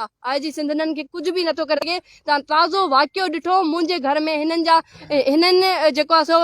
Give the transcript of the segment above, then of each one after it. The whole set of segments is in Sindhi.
آء جي سنڌ هنن کي ڪجهه به نٿو ڪري سگهي، توهان تازو واقعو ڏٺو منهنجي گهر ۾ هنن جا هنن جيڪو آهي سو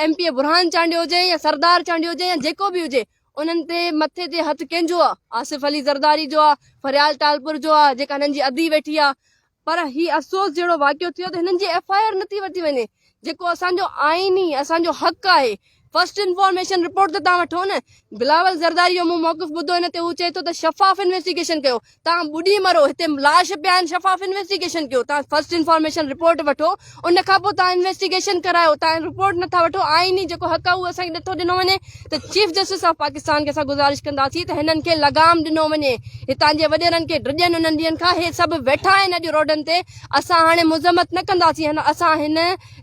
M P A Burhan Chandio هجي يا سردار چانڊيو هجي يا جيڪو به هجي انهن تي مٿي تي هٿ ڪنهن جو آهي آصف علي زرداري جو آهي فريال ٽالپر جو آهي جيڪا هنن جي ادي ويٺي آهي پر هي افسوس جهڙو واقعو ٿيو ته هنن جي ايف آء آر نٿي ورتي وڃي جيڪو اسان جو آئيني اسان جو حق آهي فرسٽ انفارميشن رپورٽ ته تان وٺو نه. بلاول زرداري جو مون موقف ٻڌو ان تي هو چئي ٿو ته شفاف انويسٽيگيشن ڪيو. تان ٻڏي مرو هتي لاش پيا آهن شفاف انويسٽيگيشن ڪيو. تان فرسٽ انفارميشن رپورٽ وٺو ان کان پوء تان انويسٽيگيشن ڪرايو تان رپورٽ نٿا وٺو آئيني جيڪو حق آهي اهو اسان کي نٿو ڏنو وڃي ته چيف جسٽس آف پاڪستان کي اسان گذارش ڪنداسين ته هنن کي لغام ڏنو وڃي هتان جي وڏيرن کي ڊڄن انهن ڏينهن کان هي سڀ ويٺا آهن اڄ روڊن تي اسان هاڻي مذمت نه ڪنداسين اسان هن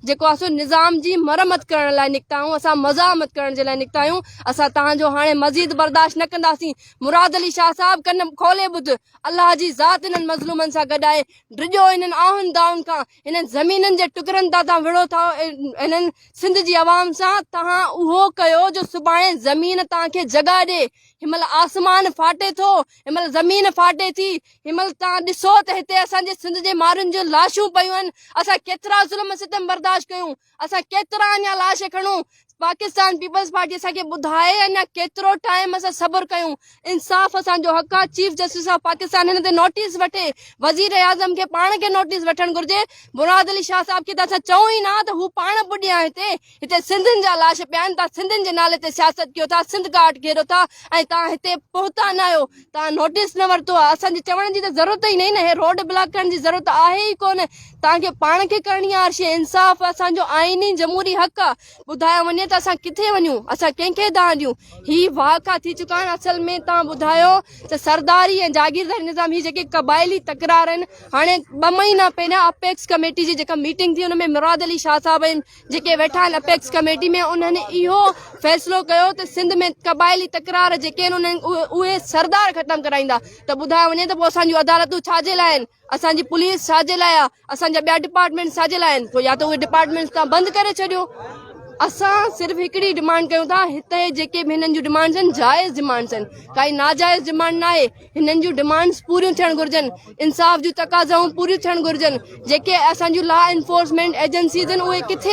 جيڪو اسو نظام جي مرمت ڪرڻ لاء نڪتا آهيون اسان مزاحمت ڪرڻ جي لاء نڪتا آهيون اسان تهان جو هاڻي مزيد برداشت نه ڪنداسين مراد علي شاهه صاحب ڪن کولي ٻڌ الله جي ذات انهن مظلومن سان گڏ آهي ڊڄو انهن آهن دائن کان انهن زمينن جي ٽڪرن تان تان وڙهو ٿا انهن سنڌ جي عوام سان تهان اهو ڪيو جو سڀاڻي زمين تهان کي جڳا ڏي هن مهل آسمان ڦاٽي ٿو هن مهل زمين ڦاٽي ٿي هن مهل توهان ڏسو ته هتي اسان جي سنڌ جي مارن جون لاشون پيون آهن، اسان ڪيترا ظلم ۽ ستم برداشت ڪيون، اسان ڪيترا اڃا لاش کڻون، پاڪستان پيپلز پارٽي اسان کي ٻڌائي اڃا ڪيترو ٽائيم اسان صبر ڪيون، انصاف اسان جو حق آهي، چيف جسٽس آف پاڪستان هن تي نوٽيس وٺي، وزيراعظم کي پاڻ کي نوٽيس وٺڻ گهرجي، مراد علي شاهه صاحب کي ته اسان چئون ئي نه ها ته هو پاڻ پڄي ها هتي. هتي سنڌين جا لاش پيا آهن تان سنڌين جي نالي تي سياست ڪيو ٿا سنڌ ڪاٽ گهيرو ٿا ۽ تان هتي پهتا نه آهيو تان نوٽيس نه ورتو آهي اسان جي چوڻ جي ته ضرورت ئي نهين هي روڊ بلاڪ ڪرڻ جي ضرورت آهي ئي ڪونه تان کي پاڻ کي ڪرڻي آهي ارشي انصاف اسان جو آئيني جمهوري حق آهي ٻڌايو وڃي ته اسان ڪٿي وڃون اسان ڪنهن کي دانهن ڏيون هي وهاڪا ٿي چڪا آهن اصل ۾ تان ٻڌايو ته سرداري ۽ جاگيرداري نظام هي جيڪي قبائلي تڪرار آهن هاڻي ٻه مهينا پهريان اپيڪس ڪميٽي جي جيڪا ميٽنگ ٿي ان ۾ مراد علي شاهه صاحب ۽ جيڪي ويٺا آهن اپيڪس ڪميٽي ۾ انهن اهو فيصلو ڪيو ته سنڌ ۾ قبائلي تڪرار جيڪي آهن انهن اهي سردار ختم ڪرائيندا ته ٻڌايو وڃي ته پوء اسان جون عدالتون ڇا جي لاء آهن اسان جي پوليس ڇا جي لاء آهي اسان جا ٻيا ڊپارٽمينٽس ڇا جي لاء آهن پوء يا ته اهي ڊپارٽمينٽس تان بند ڪري ڇڏيو اسان صرف هڪڙي ڊمانڊ ڪيون ٿا هتي جيڪي به هنن جون ڊمانڊس آهن جائز ڊمانڊس آهن ڪائي ناجائز ڊمانڊ ناهي هنن جون ڊمانڊس پوريون ٿيڻ گهرجن انصاف جون تقاضائون پوريون ٿيڻ گهرجن جيڪي اسان جون لا انفورسمينٽ ايجنسيز آهن اهي ڪٿي